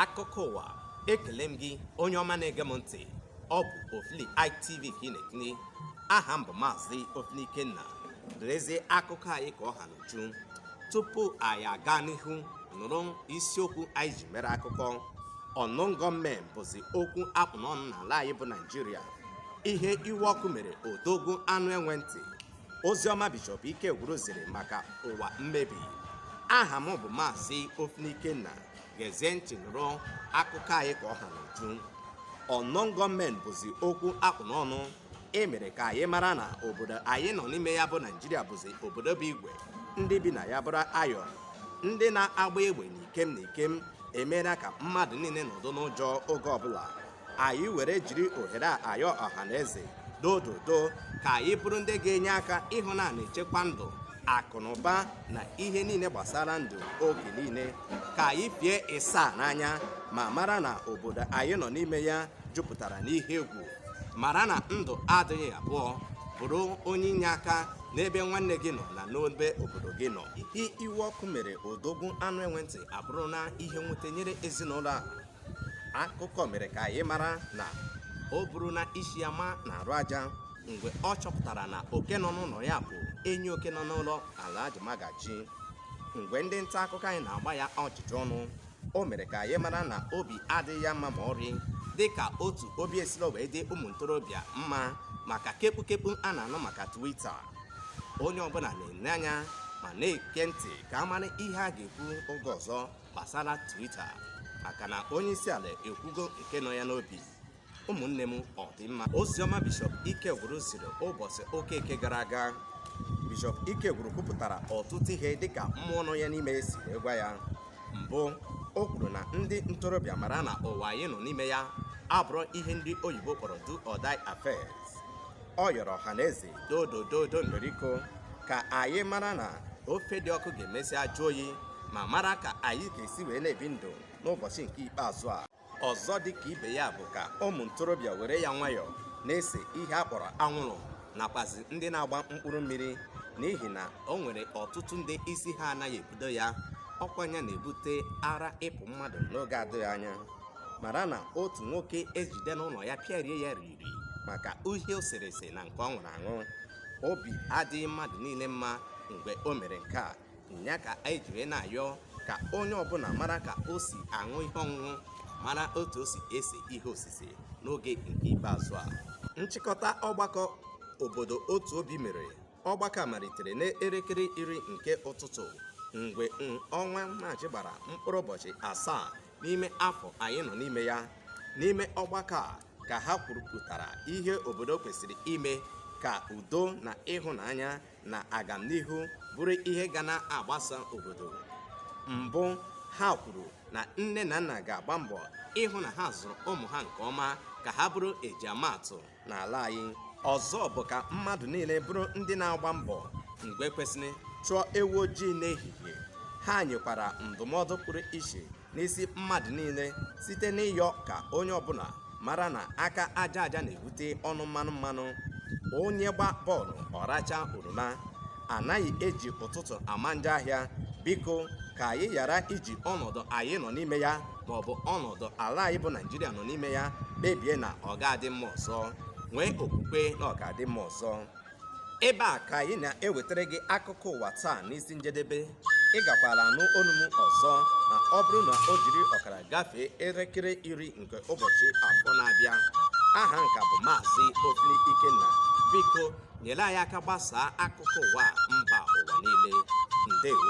akụkọ ụwa ekele m gị onye ọma na-ege m ntị ọ bụ ofili itv ka ị na-ekiri aha m bụ maazị ofili ikenna lezie akụkọ anyị ka ọ ha n'uju tupu anyị aga n'ihu nụrụ isiokwu anyị ji mere akụkọ unknown gunmen bụzi okwu a kpụ n'ọnụ n'ala anyị bụ naijiria ihe iwe ọkụ mere odogwu anụ enwe ntị oziọma bishọp ikegwuru ziri maka ụwa mmebi aha m bụ maazị ofili ikenna gezie ntị nụrụ akụkọ anyị ka ọ ha n'uju unknown gunmen bụzi okwu a kpụ n'ọnụ e mere ka anyị mara na obodo anyị nọ n'ime ya bụ naijiria bụzi obodo bụ igwe ndị bi na ya bụrụ iron ndị na-agba egbe n'ikem n'ikem emeela ka mmadụ niile nọdụ n'ụjọ oge ọbụla anyị were jiri ohere a ayọ ọha na eze dododo ka anyị bụrụ ndị ga-enye aka ịhụ na a na-echekwa ndụ akụ na ụba na ihe niile gbasara ndụ oge niile ka anyị fie ịsaa n'anya ma mara na obodo anyị nọ n'ime ya jupụtara n'ihe egwu mara na ndụ adịghị abụọ bụrụ onye inyeaka n'ebe nwanne gị nọ na n'ebe obodo gị nọ ihe iwe ọkụ mere odogwu anụ enwe ntị abụrụna ihe nwute nyere ezinụlọ a akụkọ mere ka anyị mara na o buruna isi ya ma n'arụ aja mgbe ọ chọpụtara na oke nọ n'ụlọ ya bụ enyi oke nọ n'ụlọ Alhaji Magaji mgbe ndị nta akụkọ anyị na-agba ya ọjụjụ ọnụ o mere ka anyị mara na obi adịghị ya mma ma ọrị dịka otu obi esilo wee dị ụmụ ntorobịa mma maka kepụkepụ a na-anụ maka Twitter onye ọbụla na-ene anya ma na-ege ntị ka a mara ihe a ga-ekwu oge ọzọ gbasara Twitter maka na onye isi ala ekwugo nke nọ ya n'obi ụmụnne m ọ dị mma oziọma bishọp ikegwuru ziri ụbọchị ụka eke gara aga bishọp ikegwuru kwupụtara ọtụtụ ihe dịka mmụọ nọ ya n'ime si wee gwa ya mbụ o kwuru na ndị ntorobịa mara na ụwa anyị nọ n'ime ya abụrọ ihe ndị oyibo kpọrọ do or die affairs ọ yọrọ ọha na eze dodododo ndoriko ka anyị mara na ofe dị ọkụ ga-emesi ajụ oyi ma mara ka anyị ga-esi wee na-ebi ndụ n'ụbọchị nke ikpeazụ a ọzọ dị ka ibe ya bụ ka ụmụ ntorobịa were ya nwayọọ na-ese ihe a kpọrọ anwụrụ nakwazi ndị na-agba mkpụrụ mmiri n'ihi na o nwere ọtụtụ ndị isi ha anaghị ebudo ya ọkwa nya na-ebute ara ịpụ mmadụ n'oge adịghị anya mara na otu nwoke ejide n'ụlọ ya pịarie ya ri iri maka ihe o sere ese na nke ọ ṅụrụ aṅụ obi adịghị mmadụ niile mma mgbe o mere nke a nya ka anyị jiri na-ayọ ka onye ọbụla mara ka o si aṅụ ihe ọṅụṅụ mara otu o si ese ihe osise n'oge nke ikpeazụ a nchịkọta ọgbakọ obodo otu obi mere ọgbakọ malitere n'elekere iri nke ụtụtụ mgbe mm, ọnwa maachị gbara mkpụrụ ụbọchị asaa n'ime afọ anyị nọ n'ime ya n'ime ọgbakọ a ka ha kwurupụtara ihe obodo kwesịrị ime ka udo na ịhụnanya na agamnihu bụrụ ihe ga na-agbasa obodo mbụ ha kwuru na nne na nna ga-agba mbọ ịhụ na ha zụrụ ụmụ ha nke ọma ka ha bụrụ eji ama atụ n'ala anyị ọzọ bụ ka mmadụ niile bụrụ ndị na-agba mbọ mgbe kwesịrị chụọ ewu ojii n'ehihie ha nyekwara ndụmọdụ pụrụ iche n'isi mmadụ niile site n'ịyọ ka onye ọbụla mara na aka aja aja na-ebute ọnụ mmanụ mmanụ onye gba bọọlụ ọ rachaa oroma anaghị eji ụtụtụ ama njọ ahịa biko ka anyị ghara iji ọnọdụ anyị nọ n'ime ya ma ọ bụ ọnọdụ ala anyị bụ naijiria nọ n'ime ya kpebie na ọ ga-adị mma ọzọ nwee okwukwe na ọ ga-adị mma ọzọ ebe a ka anyị na-ewetara gị akụkọ ụwa taa n'isi njedebe ị gakwala anụ olu m ọzọ na ọ bụrụ na o jiri ọkara gafee elekere iri nke ụbọchị afọ na-abịa aha m ka bụ maazị ofili ikenna biko nyere anyị aka gbasaa akụkọ ụwa mba ụwa niile ndewo